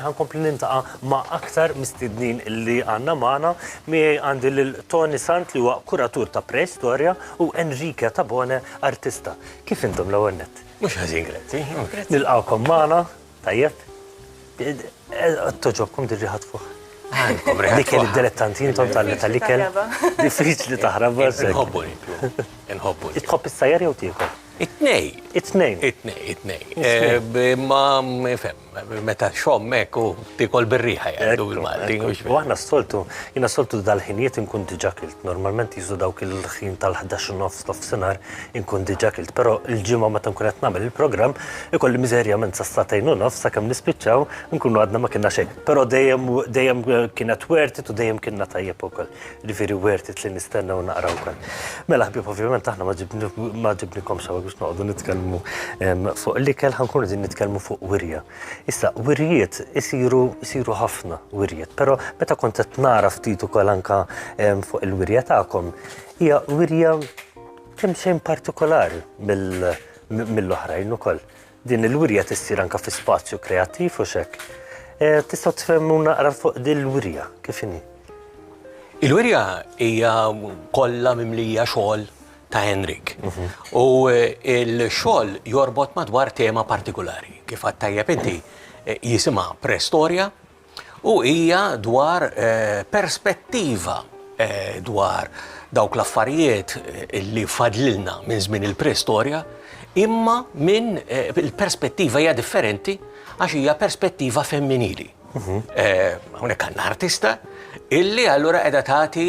Ħa nkompli niltaqa' ma' aktar mistednin li għandna magħna. Miegħi għandi lil Tony Sant li huwa kuratur ta' Preistorja u Enrique Tabone, artista. Kif intom l-ewwel nett? Mhux ħażin, grazzi. Nilqgħukom magħna, tajjeb. Togħġobkom din riħa tfuħ? Għandkom riħa tfuħ. L-ikel id-dilettanti intom tal-ikel. Diffiċli taħrab. Inħobbu niklu. Inħobbu. Tħobb issajjar jew tiekol? It-tnejn. It-tnejn. It-tnejn, it-tnejn. Imma, ifhem, Meta txomm hekk u tiekol bir-riħa jgħidu bil-Malti. U aħna s-soltu, jiena s-soltu dal-ħinijiet inkun diġà kilt. Normalment jisu dawk il-ħin tal-ħdax u nofs, nofsinhar, inkun diġà kilt. Però l-Ġimgħa meta nkun qed nagħmel il-programm, ikolli miżerjament sas-sagħtejn u nofs sakemm nispiċċaw, inkunu għadna ma kienna xejn. Però dejjem dejjem kienet worth it u dejjem kilna tajjeb ukoll. Jiġifieri worth it li nistenna u naqra wkoll. Mela ħbieb ovvjament aħna ma ġibnikomx hawn biex noqogħdu nitkellmu fuq l-ikel, ħa nkunu qegħdin nitkellmu fuq wirja. Issa, wirjiet isiru isiru ħafna wirjiet, però meta kont qed nara ftit ukoll anke fuq il-wirja tagħkom, hija wirja kemmxejn partikolari mill-oħrajn ukoll. Din il-wirja tissir anke fi spazju kreattiv u x'hekk. Eh, tistgħu tfhmu naqra fuq din il-wirja kif inhi? Il-wirja hija kollha mimlija xogħol ta' Henrik. Mhm. U eh, il-xogħol jorbot madwar tema partikolari. Kif għattajjeb inti eh, jisima prestorja U hija dwar perspettiva dwar dawk l-affarijiet li fadlilna minn żmien il-preistorja, imma minn il-perspettiva hija differenti għax hija perspettiva femminili. Hawnhekk għandna artista illi allura qiegħda tagħti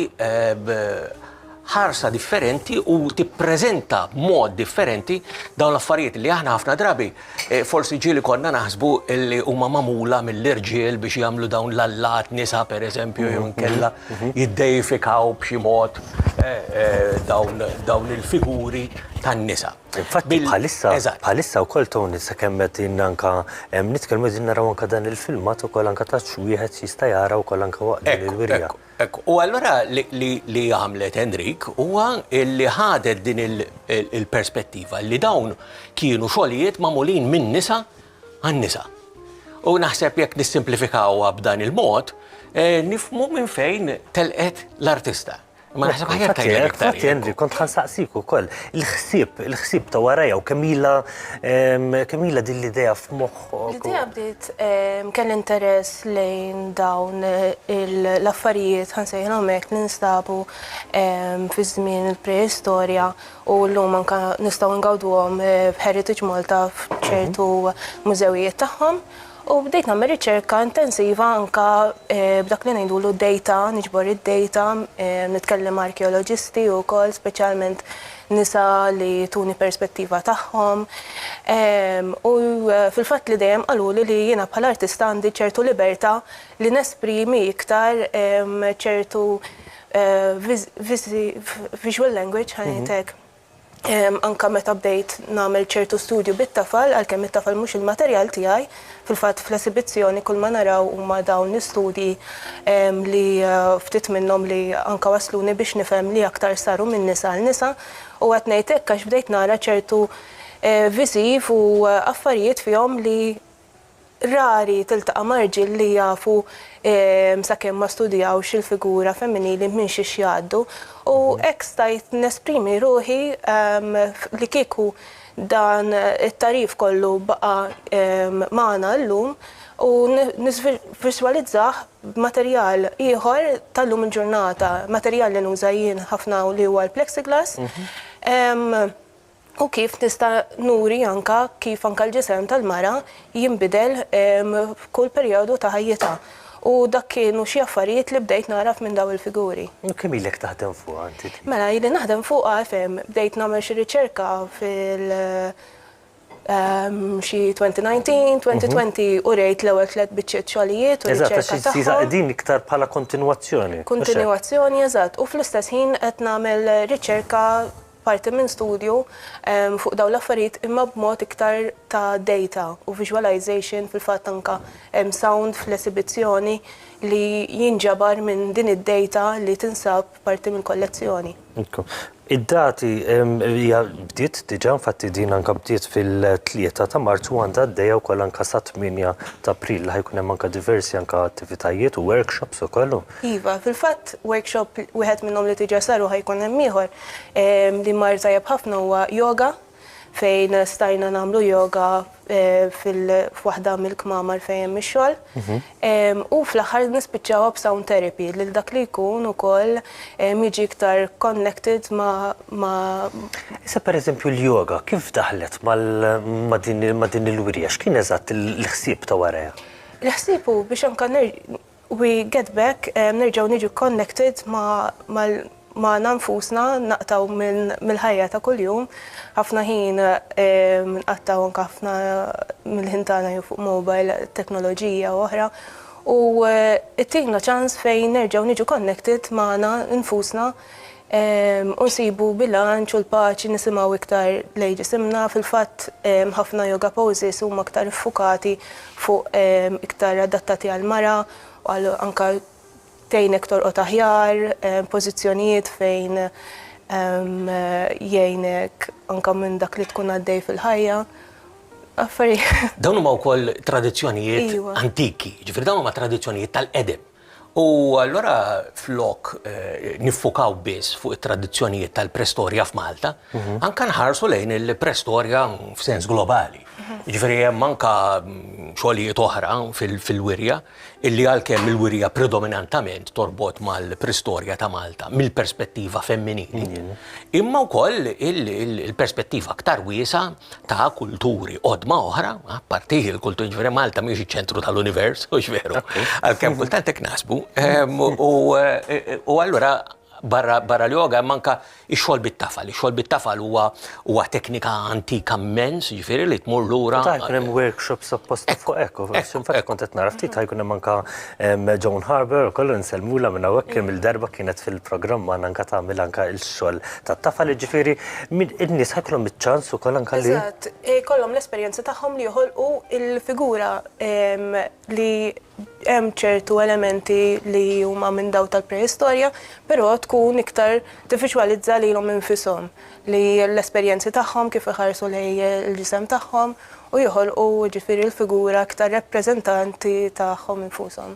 ħarsa differenti u tippreżenta b'mod differenti dawn l-affarijiet li aħna ħafna drabi eh, forsi ġieli konna naħsbu li huma magħmula mill-irġiel biex jagħmlu dawn l-allat nisa pereżempju jew mhm, inkella mhm, mhm. jiddejfikaw b'xi mod eh, eh, dawn il-figuri tan-nisa. Infatti bħalissa bħalissa wkoll Tony sa kemm qed anka nitkellmu din naraw anka dan il-filmat ukoll anka taċ wieħed jista' jara wkoll anka waqt il-wirja. Hekk, u allura li għamlet Enrique huwa li ħadet din il-perspettiva li dawn kienu xogħlijiet magħmulin minn nisa għan nisa. U naħseb jekk nissimplifikawha b'dan il-mod, eh, nifmu minn fejn telqet l-artista. Ma naħseb ħajja tajja iktar. Jenri, kont ħansaqsik ukoll. Il-ħsieb, il-ħsieb ta' warajja u kemm ilha din l-idea f'moħħ L-idea bdiet kelli interess lejn dawn l-affarijiet, ħa nsejħilhom hekk, li nstabu fi żmien il-preistorja u llum anke nistgħu ngawduhom f'Heritage Malta f'ċertu mużewijiet tagħhom. U bdejt nagħmel riċerka intensiva anke b'dak li ngħidulu data, niġbor id-data, nitkellem ma' arkeoloġisti wkoll speċjalment nisa li jtuni perspettiva tagħhom u fil-fatt li dejjem qaluli li jiena bħala artista għandi ċertu libertà li nesprimi iktar ċertu visual language ħa ngħid hekk. Anke meta bdejt nagħmel ċertu studju bit-tafal għalkemm it-tafal mhux il-materjal tiegħi, Fil-fatt fl-esibizzjoni kull ma naraw huma dawn l-istudji li ftit minnhom li anke wassluni biex nifhem li aktar saru minn nisa għal nisa u qed ngħid hekk għax bdejt nara ċertu viżiv u affarijiet fihom li rari tiltaqa' ma' rġiel li jafu sakemm ma studjawx il-figura femminili minn xiex jgħaddu u hekk stajt nesprimi ruħi li kieku Dan it-tagħrif kollu baqa' magħna llum u nivvisualizzah b'materjal ieħor ta' llum il-ġurnata, materjal li nuża jien ħafna u li huwa l-plexiglass, u kif nista' nuri anke kif anke l-ġisem tal-mara jinbidel f'kull perjodu ta' ħajjitha. U dak kienu xi affarijiet li bdejt nagħraf minn dawn il-figuri. U kemm ilek taħdem fuqha inti? Mela, ili naħdem fuqha, ifhem, bdejt nagħmel xi riċerka fil xi 2019, 2020 u rejt l-ewwel tliet biċċiet xogħlijiet u riċerka tagħhom. Eżatt, għax qegħdin iktar bħala kontinwazzjoni. Kontinwazzjoni, eżatt. U fl-istess ħin qed nagħmel riċerka. parti minn studju fuq dawn l-affarijiet imma b'mod iktar ta' data u visualization fil-fatt anke hemm sound fl-esibizzjoni li jinġabar minn din id-data li tinsab parti mill-kollezzjoni. Id-dati hija bdiet diġà, infatti din anke bdiet fil-Tlieta ta' Marzu u għandha għaddejja wkoll anke sat-Tmienja ta' April li ħa jkun hemm anke diversi anke attivitajiet u workshops ukoll. Iva, fil-fatt workshop wieħed minnhom li diġà sar u ħa jkun hemm ieħor Li mar tajjeb ħafna huwa yoga fejn stajna nagħmlu yoga f'waħda mill-kmamar fejn hemm ix-xogħol. Mhm. U fl-aħħar nispiċċawha b'sound therapy lil dak li jkun ukoll jiġi iktar connected ma'. Issa pereżempju l-yoga kif daħlet ma' din il-wirja? X'kien eżatt il-ħsieb ta' warajha? Il-ħsieb hu biex anke We get back, nerġgħu niġu connected magħna nfusna, naqtgħu mill-ħajja ta' kuljum, ħafna ħin nqattgħu anke ħafna mill-ħin tagħna jew fuq mobile, teknoloġija u oħra, u ttina ċans fejn nerġgħu niġu connected magħna nfusna, u nsibu bilanċ u l-paċi nisimgħu iktar lejn ġisimna, fil-fatt ħafna yoga poses huma iktar iffukati fuq iktar adattati għall-mara u għal anke tgħinek torqod aħjar, pożizzjonijiet fejn jgħinek anke minn dak li tkun għaddej fil-ħajja, affarijiet. Dawn huma wkoll tradizzjonijiet antiki, jiġifieri dawn huma tradizzjonijiet tal-qedem. U allura flok niffukaw biss fuq it-tradizzjonijiet tal-prestorja f'Malta, anke nħarsu lejn il-prestorja f'sens globali. Jiġifieri hemm anke xogħlijiet oħra fil-wirja illi għalkemm il-wirja predominantament torbot mal-prestorja ta' Malta mill-perspettiva femminili, imma wkoll il-perspettiva aktar wiesgħa ta' kulturi qodma oħra, apparti l-kulturi ġifieri Malta mhijiex iċ-ċentru tal-univers, hux veru? Għalkemm kultant hekk naħsbu. U allura barra l-yoga hemm anke x-xogħol bit-tafal. Ix-xogħol bit-tafal huwa teknika antika mmens, jiġifieri li tmur lura. Ħa jkun hemm workshops apposta fuq hekk, infatti kont qed nara ftit ħa jkun hemm anke Joan Harbour ukoll insellmulha minn hawnhekk kemm il-darba kienet fil-programm magħna anke tagħmel anke x-xogħol tat-tafal, jiġifieri in-nies ħajkollhom iċ-ċans ukoll anke li. Eżatt, ikollhom l-esperjenza tagħhom li joħolqu l-figura li hemm ċertu elementi li huma minn dawk tal-preistorja, però tkun iktar tivviġwalizza lilhom infishom. li l-esperjenzi tagħhom kif iħarsu lejn il-ġisem tagħhom u joħolqu jiġifieri l-figura iktar rappreżentanti tagħhom infushom.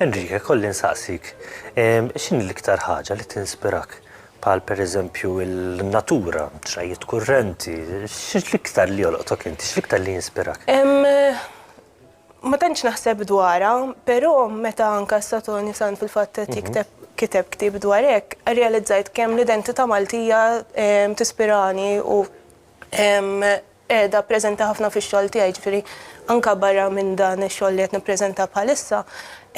Enrique, kolli nsaqsik, x'inhi l-iktar ħaġa li tinspirak? Bħal pereżempju n-natura, xrajjiet kurrenti, x'l-iktar li jolqtok inti, x'l-iktar li jinspirak? ma tantx naħseb dwarha, però meta anke Sotoni Sant fil-fatt qed jikteb kiteb ktieb dwar hekk, irrealizzajt kemm l-identità Maltija tispirani u qiegħda preżenti ħafna fix-xogħol tiegħi. Jiġifieri anke barra minn dan ix-xogħol li qed nippreżenta bħalissa,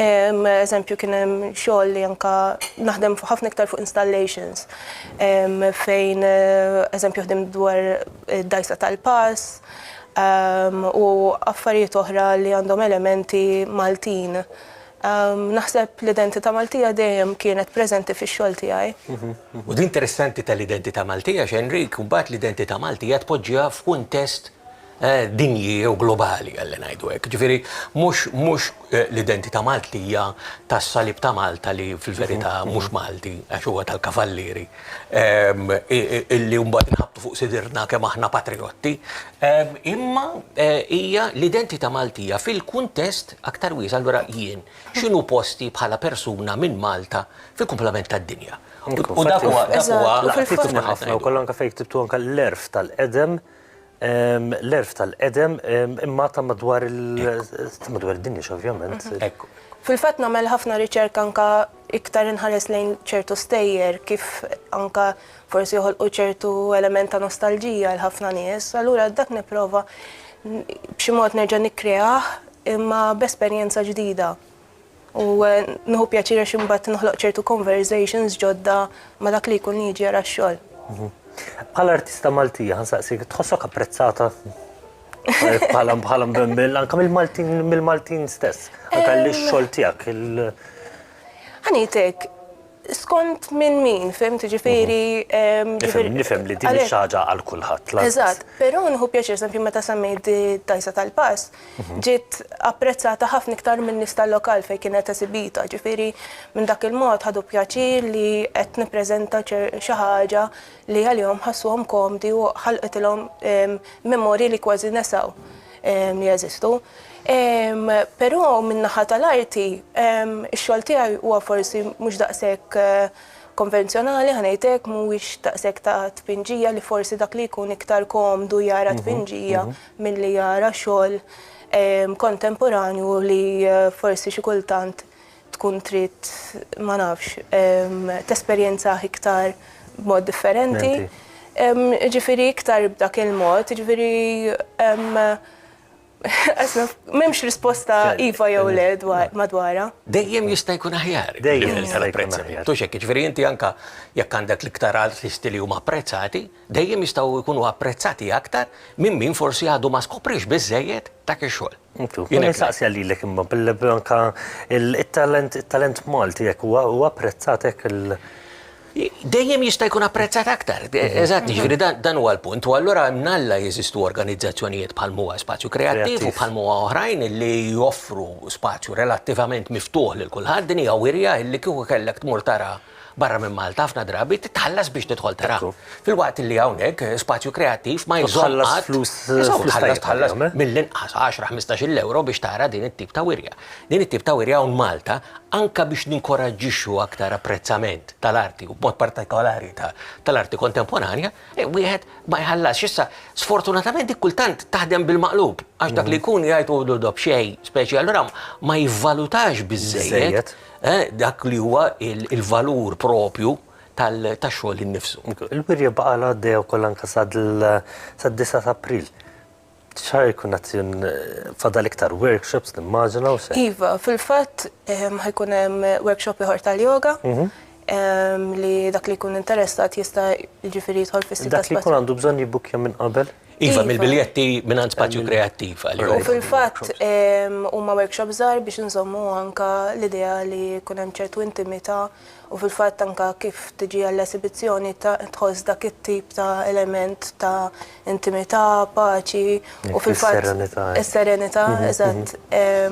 eżempju kien hemm xogħol li anke naħdem ħafna iktar fuq installations fejn eżempju ħdimt dwar id-dgħajsa tal-pass u affarijiet oħra li għandhom elementi Maltin. Naħseb l-identità Maltija dejjem kienet preżenti fix-xogħol tiegħi. U din interessanti tal-identità Maltija għax Enric mbagħad l-identità Maltija tpoġġiha f'kuntest dinji jew globali ħalli ngħidu hekk. Ġifieri mhux l-identità Maltija tas-salib ta' Malta li fil-verità mhux Malti għax huwa tal-Kavallieri illi mbagħad inħabbtu fuq sidirna kemm aħna patrijotti, imma hija l-identità Maltija fil-kuntest aktar wiesa' allura jien x'inhu posti bħala persuna minn Malta fil-kumplament tad-dinja. U dak huwa, dak huwa. Ħafna u kollha anke fejn ktibtu anke l-għerf tal-qedem L-għerf tal-qedem imma ta' madwar id-dinja x'ovvjament. Ekku. Fil-fatt nagħmel ħafna riċerka anke iktar inħares lejn ċertu stejjer kif anke forsi joħolqu ċertu element ta' nostalġija għal ħafna nies, allura dak nipprova b'xi mod nerġa' nikkreah imma b'esperjenza ġdida. U nħu pjaċir għax imbagħad noħloq ċertu conversations ġodda ma' dak li jkun jiġi għara x-xogħol. Mhm. Bħala artista Maltija, nsaqsik, tħossok apprezzata bħala bħala mbembil, anka mill-Maltin mill-Maltin stess, anka l-xogħol tiegħek. Ħanitek, Skont minn min, fhimt, jiġifieri. Nifhem, nifhem li din mhix xi ħaġa għal kulħadd lanqas. Eżatt, però nieħu pjaċir, eżempju, meta semmejt d-dgħajsa tal-pass, ġiet apprezzata ħafna iktar min-nies tal-lokal fejn kienet esibita, jiġifieri minn dak il-mod ħadu pjaċir li qed nippreżenta xi ħaġa li għalihom ħassuhom komdi u ħalqtilhom memorji li kważi nesew li jeżistu. Però min-naħa tal-arti, ix-xogħol tiegħi huwa forsi mhux daqshekk konvenzjonali, ħa ngħid hekk, mhuwiex daqshekk ta' tpinġija li forsi dak li jkun iktar komdu jara tpinġija milli jara xogħol kontemporanju li forsi xi kultant tkun trid, ma nafx, tesperjenzah iktar b'mod differenti. Ġifieri iktar b'dak il-mod, ġifieri m'hemmx risposta iva jew le madwarha. Dejjem jista' jkun aħjar. Dejjem jista' jkun aħjar. Ġifieri inti anke jekk għandek l-iktar artisti li huma apprezzati, dejjem jistgħu jkunu apprezzati aktar minn min forsi għadu ma skopriex biżżejjed dak ix-xogħol. Jien insaqsiha lilek imma billi anke it-talent it-talent Malti hekk huwa huwa apprezzat hekk il- Dejjem jista' jkun apprezzat aktar. Eżatt, jiġifieri dan dan huwa l-punt. U allura mnalla jeżistu organizzazzjonijiet bħal m'huwa Spazju Kreattiv u bħal m'huwa oħrajn li joffru spazju relattivament miftuħ lil kulħadd. Din hija wirja li kieku kellek tmur tara barra minn Malta ħafna drabi titħallas biex tidħol tara. Filwaqt li hawnhekk spazju kreattiv ma jżomm qatt flus tħallas tħallas mill-inqas 10-15 euro biex tara din it-tip ta' wirja. Din it-tip ta' wirja hawn Malta anke biex ninkoraġġixxu aktar apprezzament tal-arti u b'mod partikolari tal-arti kontemporanja, wieħed ma jħallasx. Issa sfortunatament dik kultant taħdem bil-maqlub għax dak li jkun jgħid hu dob xejn speċi allura ma jivvalutax biżżejjed. dak li huwa l-valur proprju tax-xogħol innifsu. Il-wirja baqgħet għaddejja wkoll anke sad-disgħa ta' April. X'ħa jkun qed fadal iktar workshops nimmaġina u x'hekk? Iva, fil-fatt ħa jkun hemm workshop ieħor tal-yoga li dak li jkun interessat jista' jiġifieri jidħol fis-sit tal-ispazju. Dak li jkun għandu bżonn jibbukkja minn qabel? Iva, mill-biljetti mingħand Spazju Kreattiv għalihom. U fil-fatt huma workshops żgħar biex inżommu anke l-idea li jkun hemm ċertu intimità u fil-fatt anke kif tiġi għall-esibizzjoni tħoss dak it-tip ta' element ta' intimità, paċi u fil-fatt. Is-serenità. Is-serenità, eżatt.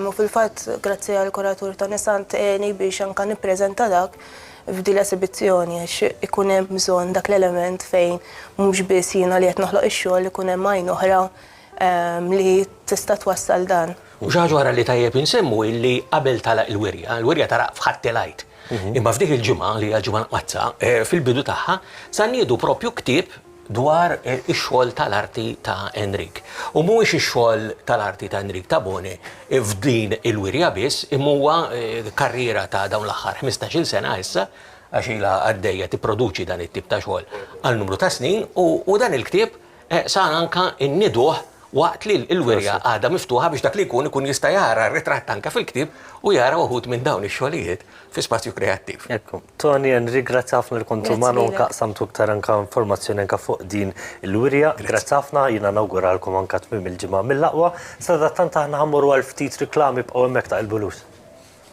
U fil-fatt grazzi għall-kuratur Toni Sant għeni biex anke nippreżenta dak F'din l-esibizzjoni għax ikun hemm bżonn dak l-element fejn mhux biss jiena li qed noħloq ix-xogħol ikun hemm għajn oħra li tista' twassal dan. U xi ħaġa oħra li tajjeb insemmu hi li qabel tagħlaq il-wirja, il-wirja tagħlaq f'Ħadd il-Għid, imma f'dik il-ġimgħa li hija l-Ġimgħa l-Mqaddsa, fil-bidu tagħha, sa nniedu proprju ktieb, dwar ix-xogħol tal-arti ta' Enric. U mhuwiex ix-xogħol tal-arti ta' Enric Tabone f'din il-wirja biss, imma huwa karriera ta' dawn l-aħħar ħmistax-il sena issa, għax ilha għaddejja tipproduċi dan it-tip ta' xogħol għal numru ta' snin, u dan il-ktieb sar anke nnieduh waqt li l-wirja għadha miftuħa biex dak li jkun ikun jista' jara r-ritratt anke fil-ktieb u jara wħud minn dawn ix-xogħlijiet. fi spazju kreattiv. Ekku. Toni Henry, grazzi ħafna li kont magħna u qassamtu iktar anke informazzjoni anke fuq din il-wirja. Grazzi ħafna, jiena nawguralkom anke tmiem il-ġimgħa mill-aqwa. Sadattant aħna ħa mmorru għal ftit riklami, ibqgħu hemmhekk taqilbulux.